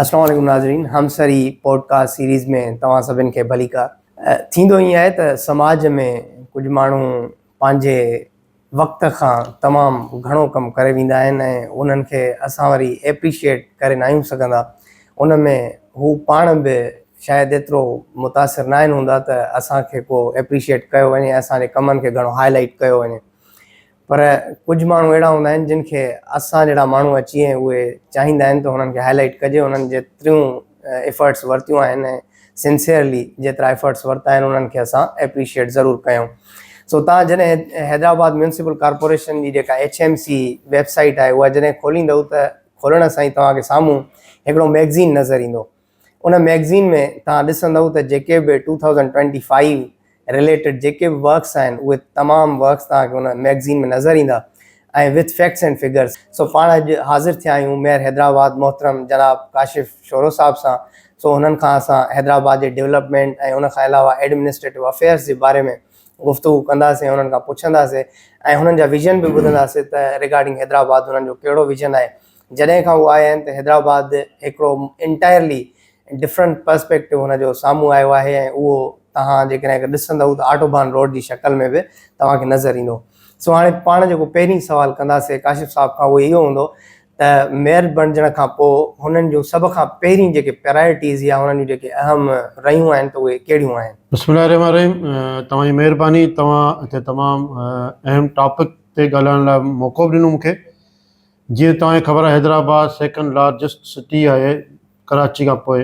السلام عليڪم ناظرين همسري پوڊڪاسٽ سيريز ۾ توهان سڀن کي ڀليڪا ٿيندو ائين آهي ته سماج ۾ ڪجهه ماڻهو پنهنجي وقت کان تمام گهڻو ڪم ڪري ويندا آهن ۽ انهن کي اسان وري ايپريشيٽ ڪري نه آهيون سگهندا ان ۾ هو پاڻ به شايد ايترو متاثر ناهن هوندا ته اسان کي ڪو اپريشيئيٽ ڪيو وڃي ۽ اسان جي ڪمن کي گهڻو هاء لائيٽ ڪيو وڃي پر ڪجهه ماڻهو اهڙا هوندا آهن جن کي اسان جهڙا ماڻهو اچي ۽ اهي چاهيندا آهن ته هنن کي هاء لائيٽ ڪجي هنن جيتريون ايفرٽس ورتيون آهن ۽ سنسيئرلي جيترا ايفرٽس ورتا آهن انهن کي اسان اپريشيئيٽ ضرور ڪيون سو تان جڏهن حيدرآباد ميونسپل ڪارپوريشن جي جيڪا H M C website آهي اها جڏهن کوليندو ته کولڻ سان ئي توهان کي سامهون هڪڙو ميگزين نظر ايندو ان ميگزين ۾ توهان ڏسندئو ته جيڪي به two thousand twenty five related جيڪي به ورڪس آهن اهي تمام ورڪس توهان کي ان ميگزين ۾ نظر ايندا ۽ وٿ فيڪٽس اينڊ فگرس. سو پاڻ اڄ حاضر ٿيا آهيون ميئر حيدرآباد محترم جناب ڪاشف شورو صاحب سان سو هنن کان اسان حيدرآباد جي ڊيولپمينٽ ۽ ان کان علاوه ايڊمنسٽريٽو افيئرس جي باري ۾ گفتگو ڪنداسين ۽ هنن کان پڇنداسين ۽ هنن جا ويزن به ٻڌنداسين ته ريگارڊنگ حيدرآباد هنن جو ڪهڙو ويزن آهي جڏهن کان هو آيا آهن ته حيدرآباد هڪڙو انٽائرلي ڊفرنٽ پرسپيڪٽو هن جو سامهون آيو آهي ۽ اهو توهان جيڪڏهن اگر ڏسندئو ته آٽوبان روڊ جي شڪل ۾ به توهان کي نظر ايندو. سو هاڻي پاڻ جيڪو پهرين سوال ڪنداسي ڪاشف صاحب کان اهو اهو هوندو ته ميئر بڻجڻ کان پوء هنن جون سڀ کان پهرين جيڪي پرايرٽيز يا هنن جون جيڪي اهم رهيون آهن ته اهي ڪهڙيون آهن؟ بسم الله الرحمٰن الرحيم توهان جي مهرباني توهان هتي تمام اهم ٽاپڪ تي ڳالهائڻ لاء موقعو به ڏنو مون کي جيئن توهان کي خبر آهي حيدرآباد سيڪنڊ لارجسٽ سٽي آهي ڪراچي کان پوء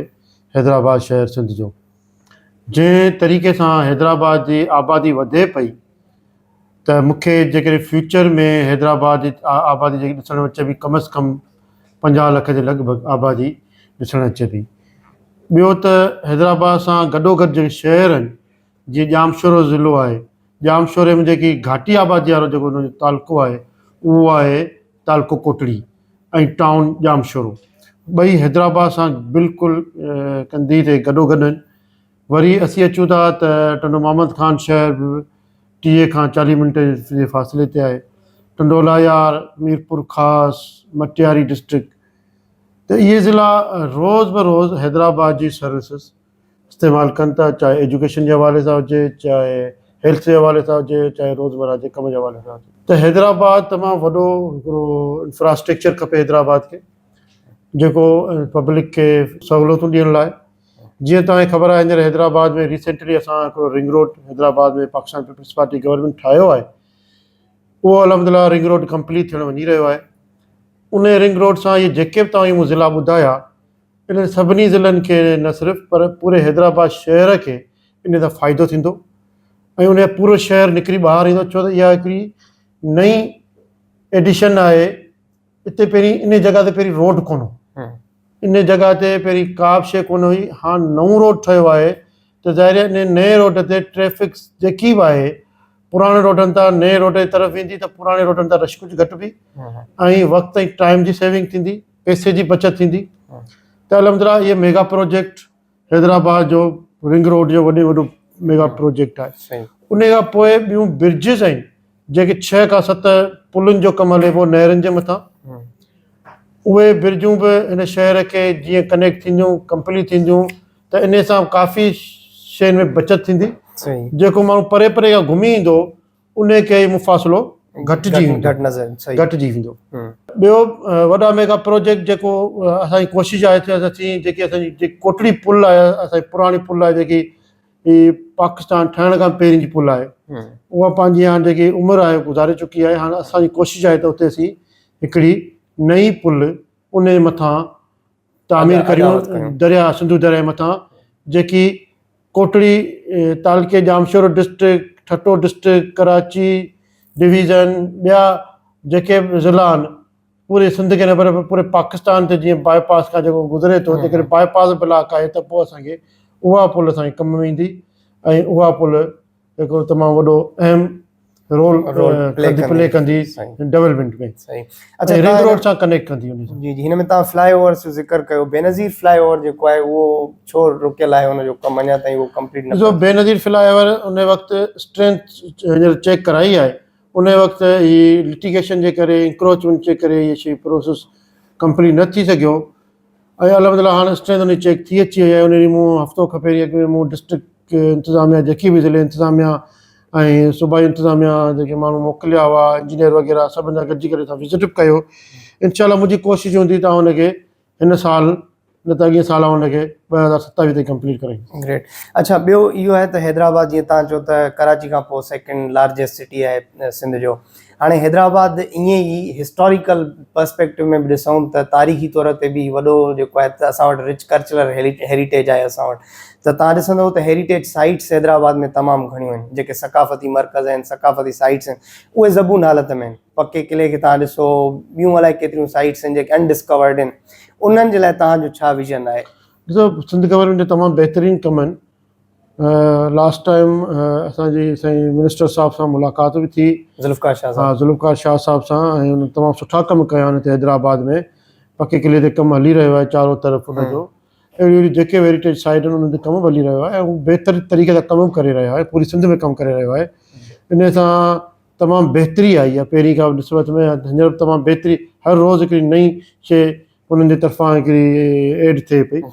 حيدرآباد شهر سنڌ جو جنهن طريقي سان حيدرآباد جي آبادي وڌي پئي ته مون کي جيڪڏهن فيوچر ۾ حيدرآباد جي آبادي جيڪي ڏسڻ اچي پئي ڪم از ڪم پنجاهه لک جي لڳ ڀڳ آبادي ڏسڻ اچي پئي ٻيو ته حيدرآباد سان گڏو گڏ جيڪي شهر آهن جيئن ڄامشورو ضلعو آهي، ڄامشوري ۾ جيڪي گهاٽي آبادي وارو جيڪو ان جو تعلقو آهي اهو آهي تعلقو ڪوٽڙي ۽ ٽائون ڄامشورو. ٻئي حيدرآباد سان بلڪل ڪنڌيء تي گڏو گڏ آهن. وري اسين اچون ٿا ته ٽنڊو محمد خان شهر به ٽيهه کان چاليهه منٽ جي فاصلي تي آهي. ٽنڊو الاهيار، ميرپور خاص، مٽياري ڊسٽرڪٽ ته اهي ضلعا روز بروز حيدرآباد جي سروسز، استعمال ڪن ٿا چاهي ايجوڪيشن جي حوالي سان هجي چاهي هيلٿ جي حوالي سان هجي چاهي روزمره جي ڪم جي حوالي سان هجي ته حيدرآباد تمام وڏو هڪڙو انفراسٽرڪچر کپي حيدرآباد کي جيڪو پبلڪ کي سهولتون ڏيڻ لاء جيئن توهان کي خبر آهي هينئر حيدرآباد ۾ ريسينٽلي اسان هڪڙو ring road Hyderabad ۾ Pakistan peoples Party government ٺاهيو آهي اهو الحمدلله رنگ روڊ ڪمپليٽ ٿيڻ وڃي رهيو آهي ان رنگ روڊ سان اهي جيڪي به توهان کي مون ضلعا ٻڌايا انهن سڀني ضلعن کي نه صرف پر پوري حيدرآباد شهر کي انهي سان فائدو ٿيندو ۽ انهي پورو شهر نڪري ٻاهر ايندو ڇو ته اها هڪڙي نئين ايڊيشن آهي اتي پهرين انهي جڳهه تي پهرين روڊ ڪونه هو انهي جڳهه تي پهرين ڪا به شيء ڪونه هئي هاڻ نئون روڊ ٺهيو آهي ته ظاهر آهي انهي نئين روڊ تي ٽريفڪ جيڪي به آهي پراڻي روڊن تان نئين روڊ جي طرف ويندي ته پراڻي روڊن تان رش ڪجهه گهٽبي ۽ وقت ۽ ٽائيم جي سيونگ ٿيندي. پئسي جي بچت ٿيندي ته الحمدلله اهي ميگا پروجيڪٽ حيدرآباد جو رنگ روڊ جو وڏي وڏو ميگا پروجيڪٽ آهي ان کان پوء ٻيون برجز آهن جيڪي ڇهه کان ست پلن جو ڪم هلي پيو نهرن جي مٿان اهي برجون به هن شهر کي جيئن ڪنيڪٽ ٿينديون ڪمپليٽ ٿينديون ته ان سان ڪافي شين ۾ بچت ٿيندي جيڪو ماڻهو پري پري کان گهمي ايندو انهي ڪري اهو مفاصلو گهٽجي ويندو گهٽجي ويندو ٻيو وڏا ميگا پروجيڪٽ جيڪو اسان جي ڪوشش آهي ته اسين جيڪي اسان جي ڪوٽڙي پل آهي اسان جي پراڻي پل آهي جيڪي هي پاڪستان ٺهڻ کان پهرين جي پل آهي اها پنهنجي هاڻ جيڪي عمر آهي گذاري چڪي آهي هاڻ اسان جي ڪوشش آهي ته اتي اسين هڪڙي نئين پل انهي مٿان تعمير ڪريون درياهه سنڌو درياهه مٿان جيڪي ڪوٽڙي تعلقي Jamshoro district Thatta district Karachi division ٻيا جيڪي به ضلعا آهن پوري سنڌ کي نه پر پوري پاڪستان تي جيئن باء پاس کان جيڪو گذري ٿو جيڪڏهن باء پاس بلاڪ آهي ته پوء اسان کي اها پل اسان کي ڪم ۾ ايندي ۽ اها پل هڪڙو تمام وڏو اهم رول رول پلي ڪندي پلي ڪندي سائين ڊيولپمينٽ ۾ سائين اچا ۽ رنگ تان روڊ سان ڪنيڪٽ ڪندي ان سان جي جي هن ۾ تان فلاء اوورس جو ذڪر ڪيو بينظير فلاء اوور جيڪو آهي اهو ڇو رڪيل آهي ان جو ڪم اڃا تائين اهو ڪمپليٽ نه ڏسو ڪيو بينظير فلاء اوور ان وقت اسٽرينٿ هينئر چيڪ ڪرائي آهي ان وقت هي لٽيگيشن جي ڪري انڪروچمينٽ جي ڪري هي شي پروسيس ڪمپليٽ نه ٿي سگهيو اهي الحمدلله هاڻ اسٽرينٿ انهي چيڪ ٿي اچي وئي آهي انهي ڏينهن مون هفتو کن پهرين اڳ ۾ مون ڊسٽرڪٽ انتظاميا جيڪي به ضلعي انتظاميا ۽ صوبائي انتظاميا جيڪي ماڻهو موڪليا هئا انجنيئر وغيره سڀن سان گڏجي ڪري اسان وزٽ به ڪيو انشاء الله منهنجي ڪوشش هوندي ته آئون ان کي هن سال نه ته اڳئين سال آئون ان کي ٻه هزار ستاويهه تائين ڪمپليٽ ڪرائين گريٽ اڇا ٻيو اهو آهي ته حيدرآباد جيئن تان چئو ته ڪراچي کان پوء سيڪنڊ لارجسٽ سٽي آهي سنڌ جو هاڻي حيدرآباد ائين ئي هسٽاريڪل پرسپيڪٽو ۾ به ڏسون ته تاريخي طور تي به وڏو جيڪو آهي ته اسان وٽ رچ ڪرچلر هيريٽيج آهي اسان وٽ ته تان ڏسندو ته هيريٽيج سائيٽس حيدرآباد ۾ تمام گهڻيون آهن جيڪي ثقافتي مرڪز آهن ثقافتي سائيٽس آهن اهي زبون حالت ۾ آهن پڪي قلعي کي تان ڏسو ٻيون الائي ڪيتريون سائيٽس آهن جيڪي انڊسڪورڊ آهن انهن جي لاء تان جو ڇا ويزن آهي. ڏسو سنڌ گورنمينٽ جا تمام بهترين ڪم آهن لاسٽ ٽائيم اسان جي سائين منسٽر صاحب سان ملاقات به ٿي ذوالفقار شاهه صاحب ذوالفقار شاهه صاحب سان ۽ تمام سٺا ڪم ڪيا آهن هتي حيدرآباد ۾ پڪي قلعي تي ڪم هلي رهيو آهي چارو طرف ان جو اهڙي اهڙي جيڪي هيريٽيج سائيٽ آهن انهن تي ڪم به هلي رهيو آهي ۽ بهتر طريقي سان ڪم به ڪري رهيو آهي پوري سنڌ ۾ ڪم ڪري رهيو آهي انهي سان تمام بهتري آئي آهي پهرين کان نسبت ۾ هينئر تمام بهتري هر روز هڪڙي نئي شيء انهن جي طرفان هڪڙي ايڊ ٿئي پئي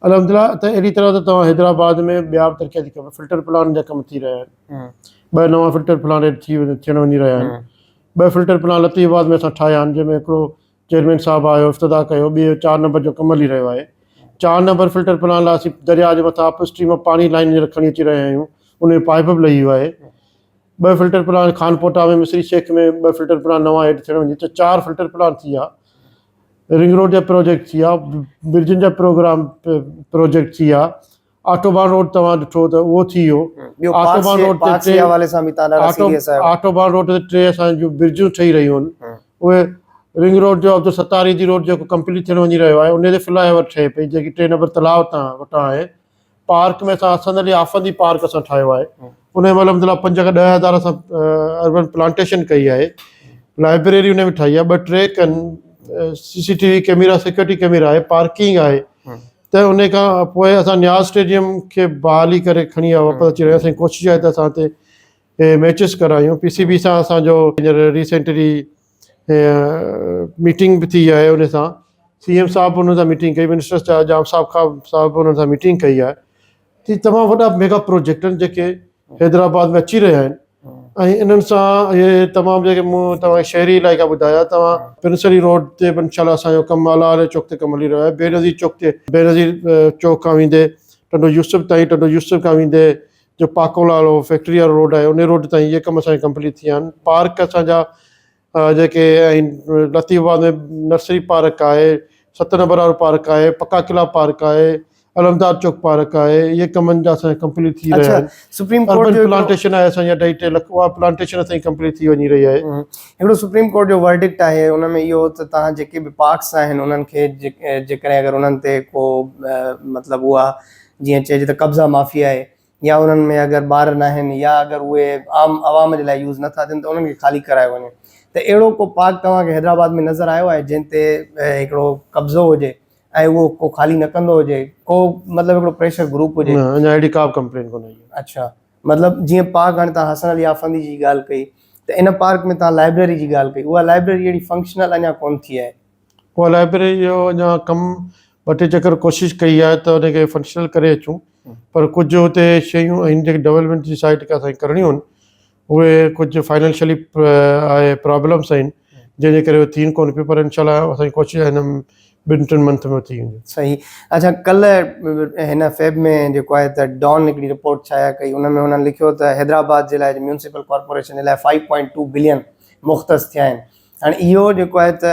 الحمدلله ته اهڙي طرح ته توهان حيدرآباد ۾ ٻيا به ترقياتي ڪم فلٽر پلانٽ جا ڪم ٿي رهيا آهن ٻه نوان فلٽر پلانٽ ايڊ ٿي ٿيڻ وڃي رهيا آهن ٻه فلٽر پلانٽ لطيف آباد ۾ اسان ٺاهيا آهن جنهن ۾ هڪڙو چيئرمين صاحب آيو افتتاح ڪيو ٻيو چار نمبر جو ڪم هلي رهيو آهي چار نمبر فلٽر پلانٽ لاء اسين درياء جي مٿان اپ اسٽريم مان پاڻي لائين هينئر کڻي اچي رهيا آهيون ان جو پائپ به لهي ويو آهي ٻه فلٽر پلانٽ خانپوٽا ۾ مصري شيخ ۾ ٻه فلٽر پلانٽ نوان ايڊ ٿيڻ وڃي ته چار فلٽر پلانٽ ٿي ويا رنگ روڊ جا پروجيڪٽ ٿي ويا، برجن جا پروگرام پروجيڪٽ ٿي ويا، آٽوبان روڊ توهان ڏٺو ته اهو ٿي ويو، آٽوبان روڊ تي ٽي آٽوبان روڊ تي ٽي اسان جون برجون ٺهي رهيون آهن، اهي رنگ روڊ جو عبدالستار ايڌي روڊ جيڪو ڪمپليٽ ٿيڻ وڃي رهيو آهي، ان تي فلائي اوور ٺهي پئي جيڪي ٽي نمبر تلاء تان وٽان آهي، پارڪ ۾ اسان حسن علي آفندي پارڪ اسان ٺاهيو آهي ان مهل ان لاء پنج کان ڏهه هزار اسان اربن پلانٽيشن ڪئي آهي لائبريري ان ۾ ٺاهي آهي ٻه ٽي کن C C T V camera security camera آهي پارڪنگ آهي ته ان کان پوء اسان نياز اسٽيڊيم کي بحالي ڪري کڻي آيا واپس اچي رهيا اسان ڪوشش آهي ته اسان اتي ميچز ڪرايون پي سي بي سان اسانجو هينئر ريسينٽلي ميٽنگ به ٿي آهي ان سان سي ايم صاحب انهن سان ميٽنگ ڪئي منسٽرس چيا جام صاحب کان صاحب انهن سان ميٽنگ ڪئي آهي ته تمام وڏا ميگا پروجيڪٽ آهن جيڪي حيدرآباد ۾ اچي رهيا آهن ۽ انهن سان اهي تمام جيڪي مون توهان شهري علائقا ٻڌايا توهان پرنسري روڊ تي به انشاء الله اسان جو ڪم اعليٰ علي چوڪ تي ڪم هلي رهيو آهي بينظير چوڪ تي بينظير چوڪ کان ويندي ٽنڊو يوسف تائين ٽنڊو يوسف کان ويندي جو پاڪول وارو فيڪٽري وارو روڊ آهي انهي روڊ تائين اهي ڪم اسان جا ڪمپليٽ ٿي ويا آهن پارڪ اسان جا جيڪي ۽ لطيف آباد ۾ نرسري پارڪ آهي ست نمبر وارو پارڪ آهي پڪا قلعا پارڪ آهي علمدار چوڪ پارڪ آهي اهي ڪم جا اسان جا ڪمپليٽ ٿي رهيا اڇا آهن سپريم ڪورٽ اربن جو هڪڙو پلانٽيشن آهي اسان جا اڍائي ٽي لک اها پلانٽيشن اسان جي ڪمپليٽ ٿي وڃي رهي آهي هڪڙو سپريم ڪورٽ جو ورڊڪٽ آهي ان ۾ اهو ته تهان جيڪي به پارڪس آهن انهن کي جيڪڏهن اگر انهن تي ڪو مطلب اها جيئن چئجي ته قبضا معافي آهي يا انهن ۾ اگر ٻار ناهن يا اگر اهي عام عوام جي لاء يوز نٿا ٿين ته انهن کي خالي ڪرايو وڃي ته اهڙو ڪو پارڪ توهان کي حيدرآباد ۾ نظر آيو آهي جنهن تي هڪڙو قبضو هجي ۽ اهو ڪو خالي نه ڪندو هجي ڪو مطلب هڪڙو پريشر گروپ هجي. نه اڃا اهڙي ڪا به ڪمپلين ڪونه آئي آهي. اڇا مطلب جيئن پارڪ هاڻي توهان حسن علي آفندي جي ڳالهه ڪئي ته ان پارڪ ۾ توهان لائبريري جي ڳالهه ڪئي اها لائبريري اهڙي فنڪشنل اڃا ڪونه ٿي آهي. اها لائبريري جو اڃا ڪم ٻه ٽي چڪر ڪوشش ڪئي آهي ته ان کي فنڪشنل ڪري اچون پر ڪجهه اتي شيون آهن جيڪي ڊولپمينٽ جي سائيڊ کان اسانکي ڪرڻيون آهن اهي ڪجهه فائنينشلي آهي پرابلمس آهن جنهن جي ڪري اهي ٿين ڪونه پيون پر انشاء الله اسانجي ڪوشش آهي هن ٻن ٽن منٿ ۾ ٿي وينديون صحيح اچھا ڪلھ هن فيب ۾ جيڪو آهي ته ڊان هڪڙي رپورٽ شايع ڪئي ان ۾ هنن لکيو ته حيدرآباد جي لاء ميونسپل ڪارپوريشن جي لاء فائيو پوائنٽ ٽو بلين مختص ٿيا آهن هاڻي اهو جيڪو آهي ته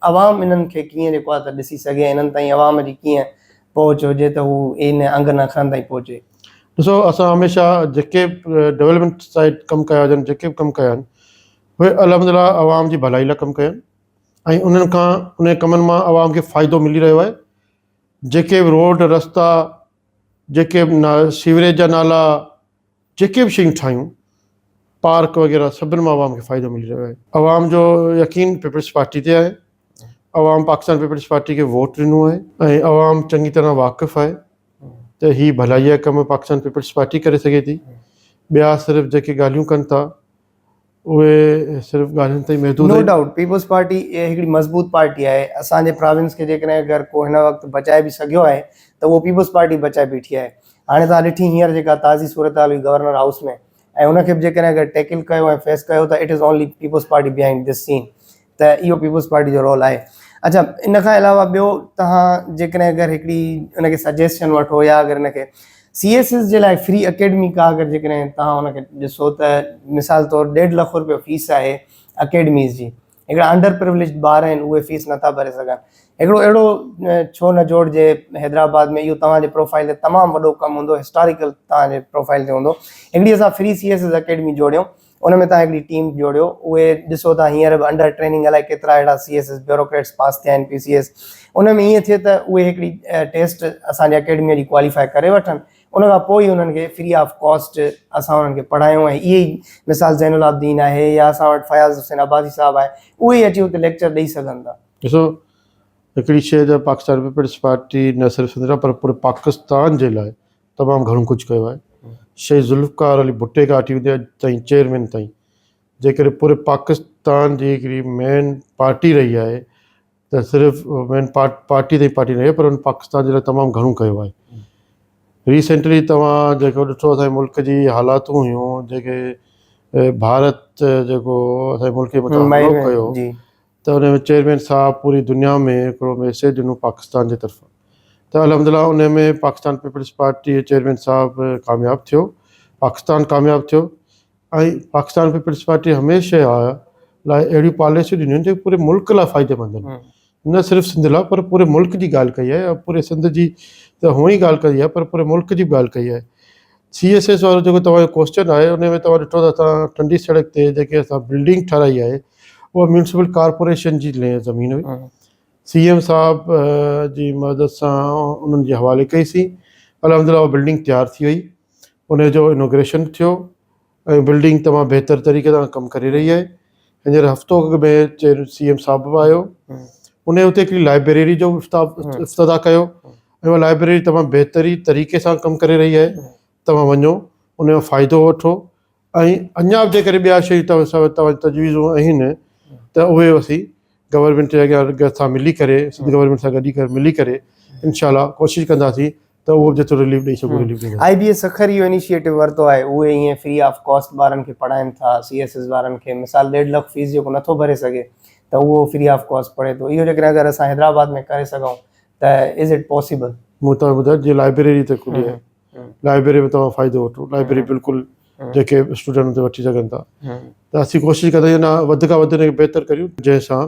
عوام انهن کي ڪيئن جيڪو آهي ته ڏسي سگهي ۽ انهن تائين عوام جي ڪيئن پهچ هجي ته هو ان انگ نه اکرن تائين پهچي. ڏسو اسان هميشه جيڪي به ڊولپمينٽ سائيڊ ڪم ڪيا هجن جيڪي به ڪم ڪيا آهن اهي الحمد لله عوام جي ڀلائي لاء ڪم ڪيا آهن ۽ انهن کان انهن ڪمن مان عوام کي فائدو ملي رهيو آهي جيڪي به روڊ رستا جيڪي به سيوريج جا نالا جيڪي به شيون ٺاهيون پارڪ وغيره سڀن مان عوام کي فائدو ملي رهيو آهي عوام جو يقين پيپلز پارٽي تي آهي عوام پاڪستان پيپلز پارٽي کي ووٽ ڏنو آهي ۽ عوام چڱي طرح واقف آهي ته هي ڀلائي جا ڪم پاڪستان پيپلز پارٽي ڪري سگهي ٿي ٻيا صرف جيڪي ڳالهيون ڪن ٿا اهي صرف ڳالهين تائين محدود آهن. نو ڊائوٽ پيپلز پارٽي هڪڙي مضبوط پارٽي آهي اسان جي پراونس کي جيڪڏهن اگر ڪو هن وقت بچائي به سگهيو آهي ته اهو پيپلز پارٽي بچائي بيٺي آهي هاڻي توهان ڏٺي هينئر جيڪا تازي صورتحال هئي گورنر هائوس ۾ ۽ ان کي به جيڪڏهن اگر ٽيڪل ڪيو ۽ فيس ڪيو ته it is only People's Party behind this scene ته اهو پيپلز پارٽي جو رول آهي. اڇا ان کان علاوه ٻيو تهان جيڪڏهن اگر هڪڙي ان کي سجيسشن وٺو يا اگر ان کي سي ايس ايس جي لاء فري اڪيڊمي ڪا اگر جيڪڏهن تهان ان کي ڏسو ته مثال طور ڏيڍ لک روپيو فيس آهي اڪيڊميز جي هڪڙا انڊر پرويليجڊ ٻار آهن اهي فيس نٿا ڀري سگهن هڪڙو اهڙو ڇو نه جوڙجي حيدرآباد ۾ اهو توهان جي پروفائيل تي تمام وڏو ڪم هوندو هسٽاريڪل توهان جي پروفائيل تي هوندو هڪڙي اسان free C S S academy جوڙيون ان ۾ توهان هڪڙي ٽيم جوڙيو اهي ڏسو ته هينئر به انڊر ٽريننگ الائي ڪيترا اهڙا C S S bureaucrats pass ٿيا آهن پي سي ايس ان ۾ ائين ٿئي ته اهي هڪڙي ٽيسٽ اسان جي اڪيڊميء جي ڪواليفائي ڪري وٺن ان کان پوء ئي انهن کي فري آف ڪاسٽ اسان انهن کي پڙهايون ۽ اهي ئي مثال زين العابدين آهي يا اسان وٽ فياض حسين عباسي صاحب آهي اهي ئي اچي اتي ليڪچر ڏئي سگهن ٿا. ڏسو هڪڙي شيء جو پاڪستان پيپلز پارٽي نه صرف سنڌ لاء پر پوري پاڪستان جي لاء تمام گهڻو ڪجهه ڪيو آهي. شهيد ذوالفقار علي ڀٽي کان اٺي ودي اڄ تائين چيئرمين تائين جنهن ڪري پوري پاڪستان جي هڪڙي مين پارٽي رهي آهي ته صرف مين پارٽي تائين پارٽي رهي پر هن پاڪستان جي لاء تمام گهڻو ڪيو آهي. ريسينٽلي توهان جيڪو ڏٺو اسان جي ملڪ جي حالاتون هيون جيڪي ڀارت جيڪو اسان جي ملڪ جي مٿان حملو ڪيو ته انهي ۾ چيئرمين صاحب پوري دنيا ۾ هڪڙو ميسيج ڏنو پاڪستان جي طرفان ته الحمدلله انهي ۾ پاڪستان پيپلز پارٽي چيئرمين صاحب ڪامياب ٿيو پاڪستان ڪامياب ٿيو ۽ پاڪستان پيپلز پارٽي هميشه آء لاء اهڙيون پاليسيون ڏنيون آهن جيڪي پوري ملڪ لاء فائديمند آهن نه صرف سنڌ لاء پر پوري ملڪ جي ڳالهه ڪئي آهي پوري سنڌ جي ته هونئن ئي ڳالهه ڪئي آهي پر پوري ملڪ جي به ڳالهه ڪئي آهي سي ايس ايس وارو جيڪو توهان جو ڪوسچن آهي ان ۾ توهان ڏٺو ته اسان ٽنڊي سڙڪ تي جيڪي اسان بلڊنگ ٺاهرائي آهي اها ميونسپل ڪارپوريشن جي زمين هئي سي ايم صاحب جي مدد سان انهن جي حوالي ڪئي سي الحمد لله اها بلڊنگ تيار ٿي وئي ان جو انوگريشن ٿيو ۽ بلڊنگ تمام بهتر طريقي سان ڪم ڪري رهي آهي هينئر هفتو اڳ ۾ جڏهن سي ايم صاحب به آيو ان اتي هڪڙي لائبريري جو افتتاح ڪيو ۽ اها لائبريري تمام بهتري طريقي سان ڪم ڪري رهي آهي توهان وڃو ان جو فائدو وٺو ۽ اڃا به جيڪڏهن ٻيا شيون توهان وٽ تجويزون آهن ته اهي اسين گورنمينٽ جي اڳيان گڏ سان ملي ڪري سنڌ گورنمينٽ سان گڏجي ڪري ملي ڪري انشاء الله ڪوشش ڪنداسين ته اهو جيترو رليف ڏئي سگهون رليف ڏينداسين. آئي بي ايس سکر اهو انيشيئيٽو ورتو آهي اهي ائين فري آف ڪاسٽ ٻارن کي پڙهائين ٿا سي ايس ايس وارن کي مثال ڏيڍ لک فيس جيڪو نٿو ڀري سگهي ته اهو فري آف ڪاسٽ پڙهي ٿو اهو جيڪڏهن اگر اسان حيدرآباد ۾ ڪري سگهون ته از اٽ پاسيبل. مون تان ٻڌايو جي لائبريري ته کلي آهي. لائبريري ۾ توهان فائدو وٺو لائبريري بلڪل جيڪي اسٽوڊنٽ هوندي وٺي سگهن ٿا ته اسين ڪوشش ڪندا آهيون نه وڌ کان وڌ انکي بهتر ڪريون جنهن سان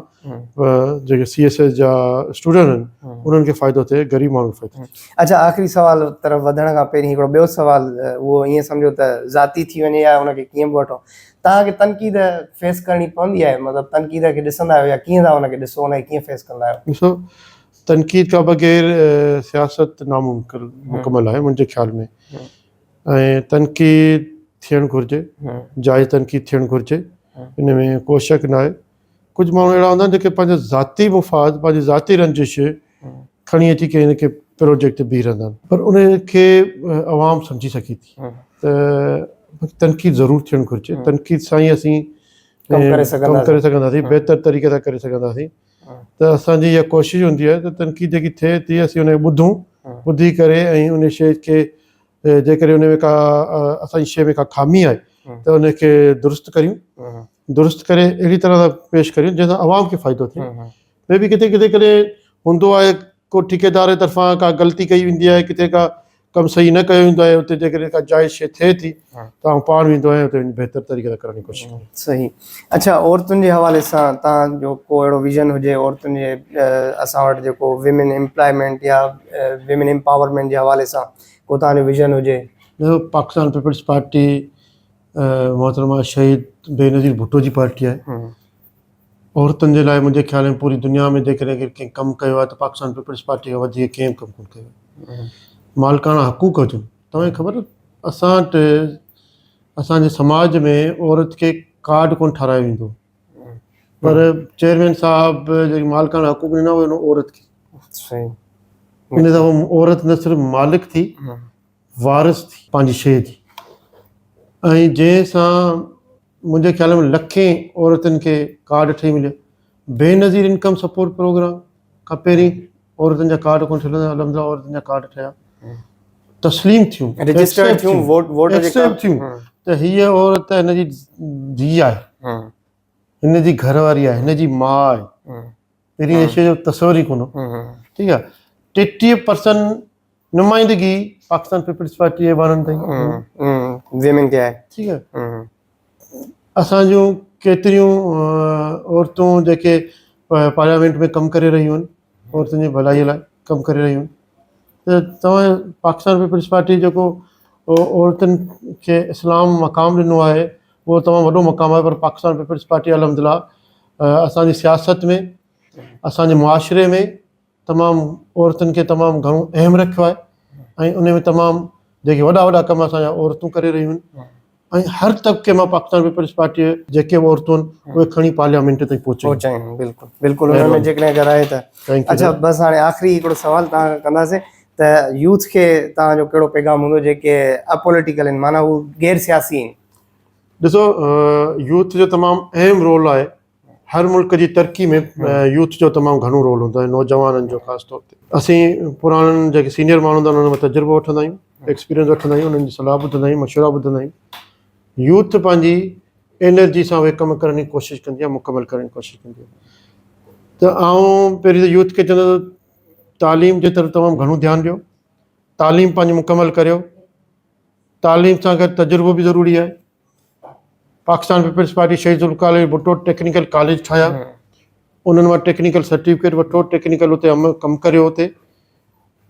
جيڪي سي ايس ايس جا اسٽوڊنٽ آهن انهن کي فائدو ٿئي غريب ماڻهو کي فائدو ٿئي. اڇا آخري سوال طرف وڌڻ کان پهرين هڪڙو ٻيو سوال اهو ائين سمجهو ته ذاتي ٿي وڃي يا ان کي ڪيئن به وٺو توهان کي تنقيد فيس ڪرڻي پوندي آهي مطلب تنقيد کي ڏسندا آهيو يا ڪيئن ٿا ان کي ڏسو ان کي ڪيئن فيس ڪندا آهيو؟ ڏسو تنقيد کان بغير سياست ناممڪن مڪمل آهي منهنجي خيال ۾ ۽ تنقيد ٿيڻ گهرجي جائز تنقيد ٿيڻ گهرجي ان ۾ ڪو شڪ ناهي ڪجهه ماڻهو اهڙا هوندا آهن جيڪي پنهنجا ذاتي مفاد پنهنجي ذاتي رنجش کڻي اچي ڪنهن نه ڪنهن پروجيڪٽ تي بيهي رهندا آهن پر ان کي عوام سمجهي سگهي ٿي ته تنقيد ضرور ٿيڻ گهرجي تنقيد سان ئي اسين ڪم ڪري سگهنداسين بهتر طريقي سان ڪري سگهنداسين. ته اسان جي اها ڪوشش هوندي آهي ته تنقيد جيڪي ٿئي ٿي اسين ان کي ٻڌون، ٻڌي ڪري ۽ ان شيء کي جيڪڏهن ان ۾ ڪا اسان جي شيء ۾ ڪا خامي آهي ته ان کي درست ڪريون، درست ڪري اهڙي طرح سان پيش ڪريون جنهن سان عوام کي فائدو ٿئي مي بي ڪٿي ڪٿي ڪڏهن هوندو آهي ڪو ٺيڪيدار جي طرفان ڪا غلطي ڪئي ويندي آهي ڪٿي ڪا ڪم صحيح نه ڪيو ويندو آهي اتي جيڪڏهن ڪا جائز شيء ٿئي ٿي ته آئون پاڻ ويندو آهيان اتي وڃي بهتر طريقي سان ڪرڻ جي ڪوشش ڪندو آهيان صحيح اڇا عورتن جي حوالي سان تهان جو ڪو اهڙو ويزن هجي عورتن جي اسان وٽ جيڪو ويمن امپلائمينٽ يا ويمن امپاورمينٽ جي حوالي سان ڪو تهان جو ويزن هجي. ڏسو پاڪستان پيپلز پارٽي محترمه شهيد بينظير ڀٽو جي پارٽي آهي عورتن جي لاء منهنجي خيال ۾ پوري دنيا ۾ جيڪڏهن ڪنهن ڪنهن ڪم ڪيو آهي ته پاڪستان پيپلز پارٽي کان وڌيڪ ڪنهن ڪم ڪونه ڪيو آهي. مالڪاڻا حقوق هجن، توهان کي خبر اسان وٽ اسان جي سماج ۾ عورت کي ڪارڊ ڪونه ٺارايو ويندو پر چيئرمين صاحب جيڪي مالڪاڻا حقوق ڏنا اهي ڏنو عورت کي. ان سان عورت نه صرف مالڪ ٿي وارث ٿي پنهنجي شيء جي ۽ جنهن سان منهنجي خيال ۾ لکين عورتن کي ڪارڊ ٺهي مليا بينظير انڪم سپورٽ پروگرام کان پهرين عورتن جا ڪارڊ ڪونه ٺهيل الحمدلله عورتن جا ڪارڊ ٺهيا تسليم ٿيون رجسٽرڊ ٿيون ووٽ ووٽ جي ڪارڊ ٿيون ته هي عورت هن جي ڌي آهي هن جي گهر واري آهي هن جي ماء آهي پهرين شي جو تصور ئي ڪونه ٺيڪ آهي ٽيٽيهه پرسنٽ نمائندگي پاڪستان پيپلز پارٽي ايوانن تائين ويمن تي آهي ٺيڪ آهي اسان جون ڪيتريون عورتون جيڪي پارليامينٽ ۾ ڪم ڪري رهيون آهن عورتن جي ڀلائي لاء ڪم ڪري رهيون آهن ته توهان پاڪستان پيپلز پارٽي جيڪو عورتن کي اسلام مقام ڏنو آهي اهو تمام وڏو مقام آهي پر پاڪستان پيپلز پارٽي الحمد لله اسان جي سياست ۾ اسان جي معاشري ۾ تمام عورتن کي تمام گهڻو اهم رکيو آهي ۽ ان ۾ تمام جيڪي وڏا وڏا ڪم اسان جا عورتون ڪري رهيون آهن ۽ هر طبقي مان پاڪستان پيپلز پارٽي جيڪي به عورتون آهن اهي کڻي پارليامينٽ تائين پهچي پهچائين بالڪل بالڪل ان ۾ جيڪڏهن اگر آهي ته اچھا بس هاڻي آخري هڪڙو سوال تان ڪنداسين ته يوٿ کي تان جو ڪهڙو پيغام هوندو جيڪي اپوليٽيڪل آهن معنيٰ هو غير سياسي آهن ڏسو يوٿ جو تمام اهم رول آهي هر ملڪ جي ترقي ۾ يوٿ جو تمام گهڻو رول هوندو آهي نوجوانن جو خاص طور تي اسين پراڻن جيڪي سينئر ماڻهو هوندا آهن انهن مان تجربو وٺندا آهيون ايڪسپيرينس وٺندا آهيون انهن جي صلاح ٻڌندا آهيون مشورا ٻڌندا آهيون يوٿ پنهنجي انرجي سان اهي ڪم ڪرڻ جي ڪوشش ڪندي آهي مڪمل ڪرڻ جي ڪوشش ڪندي آهي ته آئون پهرين ته يوٿ کي چوندو تعليم جي طرف تمام گهڻو ڌيان ڏيو تعليم پنهنجي مڪمل ڪريو تعليم سان گڏ تجربو به ضروري آهي Pakistan peoples Party Shaheed Zulfiqar Ali Bhutto technical college ٺاهيا انهن وٽ ٽيڪنيڪل سرٽيفڪيٽ وٺو ٽيڪنيڪل اتي عمل ڪم ڪريو اتي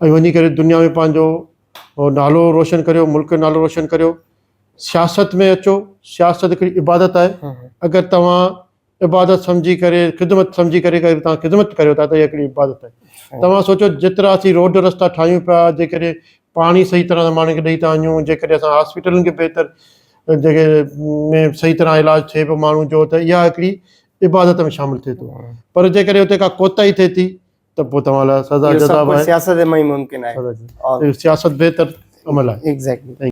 ۽ وڃي ڪري دنيا ۾ پنهنجو نالو روشن ڪريو ملڪ جو نالو روشن ڪريو سياست ۾ اچو سياست هڪڙي عبادت آهي اگر توهان عبادت سمجهي ڪري خدمت سمجهي ڪري اگر توهان خدمت ڪريو ٿا ته اها هڪڙي عبادت آهي صحيح توهان سوچيو جيترا اسين روڊ رستا ٺاهيون پيا جيڪڏهن پاڻي صحيح طرح سان ماڻهن کي ڏئي ٿا وڃون جيڪڏهن اسان هاسپيٽلن کي بهتر جيڪي ۾ صحيح طرح علاج ٿئي پيو ماڻهن جو ته اها هڪڙي عبادت ۾ شامل ٿئي ٿو آهي. پر جيڪڏهن اتي ڪا ڪوتاهي ٿئي ٿي ته پوء توهان لاء سزا اهو جزا سڀ به ڪجهه آهي سياست ۾ ئي ممڪن آهي سزا جزا. اور اهو سياست بهتر عمل آهي ايگزيڪٽلي